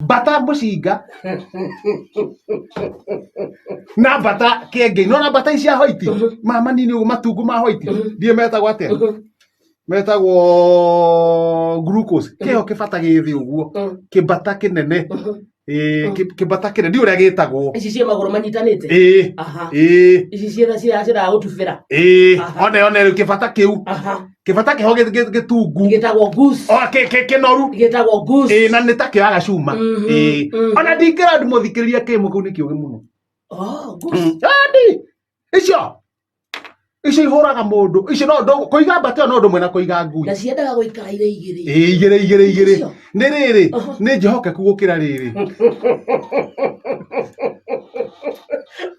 mbata mũcinga na mbata kĩengei nona mbata ici cia hoiti mama nini ũguo matungu ma hoiti ndiĩ metagwo atĩa metagwo glucose kĩo kĩbata gĩthĩ ũguo kĩmbata kĩnene Ĩĩ, kĩ- kĩmbata kĩnene ndiĩ ũrĩa gĩtagwo ici ciĩ magũrũ manyitanĩte ĩĩ aha ĩĩ ici ciĩ ciĩ ciragũtubĩra ĩĩ Aha. one one rĩu kĩbata kĩu aha kĩbata kĩho gĩ- gĩ- gĩtungu gĩtagwo goose O, kĩ- kĩ- kĩnoru gĩtagwo Ĩĩ, goose na nĩ ta kĩoyaga cuma Mhm, Ĩĩ. mhm. ona ndingĩra ndimũthikĩrĩria kĩmũ kĩu nĩ kĩũgĩ mũno oh goose Andi, icio icio ihũraga mũndũ icio no ndũ- kũiga mbata ĩyo no ũndũ mwena kũiga ngui na ciendaga gũikara irĩ igĩrĩ Ĩĩ, igĩrĩ igĩrĩ igĩrĩ Icio. nĩ rĩrĩ Aha. nĩ njehokeku gũkĩra rĩrĩ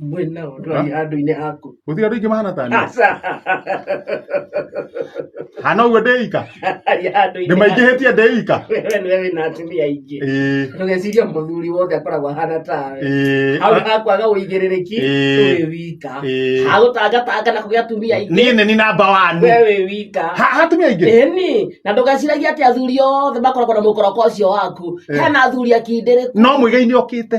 mwĩ nao ndwari andũ-inĩ aku gũtirĩ andũ ingĩ mahana ta niĩ aca hana ũguo ndĩika ari andũ-inĩ nĩ maingĩhĩtie ndĩika we nĩwe wĩna atumia aingĩ ĩĩ ndũgeciria mũthuri wothe akoragwo ahana tawe ĩĩ hau hakwaga ũigĩrĩrĩki Ĩĩ. wĩ wika Ĩĩ. hagũtangatanga na kũgĩa atumia aingĩ niĩ nĩ ni namba wanu we wĩ wika Ha- hatumia aingĩ ĩni na ndũgeciragia atĩ athuri othe makoragwo na mũkoroko ũcio waku Eh. hena athuri akindĩrĩku no mũigai nĩ okĩte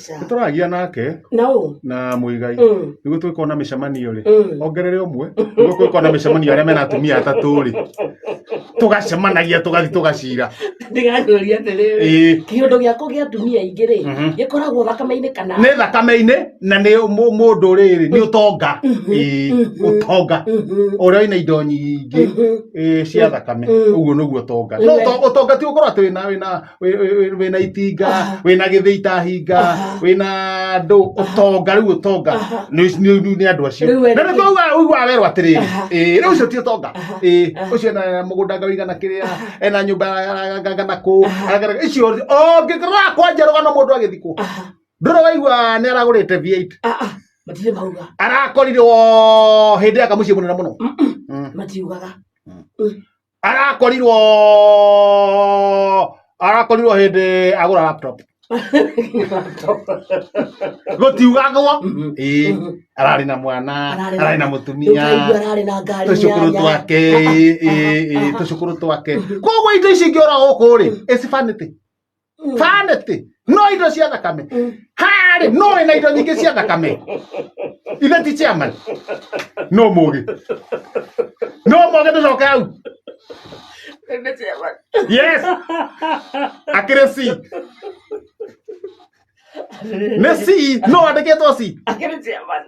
Aca. nĩ tũragia nake na ũ na mũigai Mm. nĩguo tũgĩkorwo na mĩcemanio rĩ Mm. ongerere ũmwe nĩguo tũgĩkorwo na mĩcemanio arĩa mena atumia atatũ rĩ tũgacemanagia tũgathi tũgacira ndigacũria atĩrĩrĩ Ĩĩ. kĩũndũ gĩakwa gĩa atumia aingĩ rĩ Mhm. gĩkoragwo thakame-inĩ kana nĩ thakame-inĩ na nĩ mũ- mũndũ rĩrĩ nĩ ũtonga Mhm. Ĩĩ, Mhm. ũtonga Mhm. ũrĩa wĩna indo nyingĩ Mhm. ĩĩ, cia thakame Mhm. ũguo nĩguo ũtonga No Nĩwe. ũto- ũtonga ti gũkorwo atĩ wĩna wĩna wĩ- wĩ- wĩ- wĩna itinga wĩna gĩthĩ itahinga wĩna andũ ũtonga rĩu ũtonga nĩ- nĩ nĩ andũ acio Rĩu we- na nĩ kwauga ũiguaga werwo atĩrĩrĩ Aha. ĩĩ, rĩu ũcio ti ũtonga Aha. Ĩĩ, Aha. ũcio ena mũgũnda ngari gana kĩrĩa ena nyũmba gana kũ Aha. agana- icio ũngĩkora kwanja rũgano mũndũ agĩthikwo Aha. ndũrĩ waigua nĩ aragũrĩte v8 Ah, ah. matirĩ mauga arakorire o hĩndĩ yaka mũciĩ mũnene mũno Mm-mm. Mm. matiugaga arakorirwo arakorirwo hĩndĩ agũra laptop gũtiugagwo Mhm. Ĩĩ, Mhm. ararĩ na mwana Ararĩ na- ararĩ na Rĩu mũtumia kaigua ararĩ na ngari tũcukuru nyanya. twake Aha, ĩĩ, aha, ĩĩ, aha. tũcukuru twake koguo indo ici ingĩora gũkũ rĩ ĩcibanĩtĩ vanity no indo cia thakame harĩ no wĩna indo nyingĩ cia thakame ithe ti chairman no mũgĩ no mũgĩ tũcoke hau Nĩ chairman. yes akĩrĩ c nĩ c no andĩkĩtwo c Akĩrĩ chairman.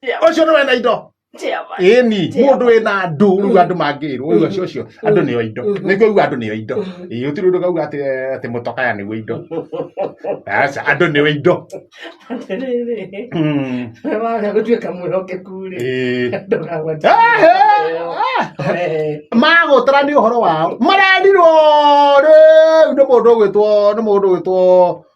Chairman. ũcio nĩ wena indo Chairman. ĩni Chairman. mũndũ wĩ na ndũ rĩu andũ mangĩrwo rĩu acio acio andũ nĩo indo nĩguo uga andũ nĩo indo ĩĩ ũtirĩ ũndũ kauga atĩ atĩ mũtokaya nĩguo indo aca andũ nĩo indo Atĩrĩrĩ, Mm. we waga gũtuĩka mwĩhokeku-rĩ, Ĩĩ. ndũkagwate Ehe. ĩyo. Wee. magũtara nĩ ũhoro wao marerirwo rĩu nĩ mũndũ ũgwĩtwo nĩ mũndũ ũgwĩtwo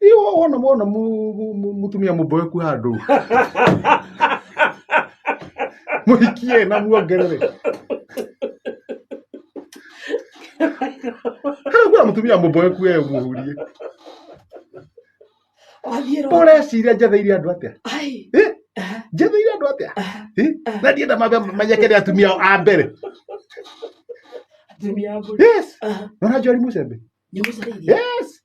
Iyo wona wona mu- mu- mu- mutumia mũmboeku handũ mũhikie na muongerere harakuwa mũtumia mũmboeku e mũhurie wathiĩ rwa ũreciria njetheire andũ atĩa ai Eh? aha, njetheire andũ atĩa aha, Eh? na ndienda mambe manyekere atumia ao a mbere atumia a mbũri yes aha, nona njori mũcembe nĩ mũcarĩirie yes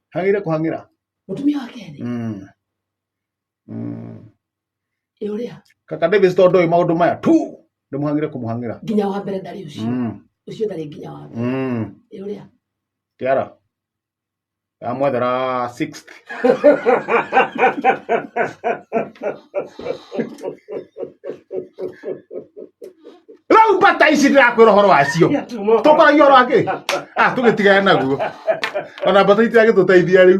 hagire kuhangira mutumia wa keri mm mm ĩ ũrĩa kaka Davis tondu ĩ maundu maya tu ndimuhangire kumuhangira nginya wa mbere ndarĩ ũcio mm ũcio ndarĩ nginya wa mbere mm ĩ ũrĩa tiara amwethera 6th rau mbata ici ndĩrakwĩra ũhoro wacio tũkwaragia ũhoro wakĩ tũgĩtigane naguo ona mbata itiragĩtũteithia rĩu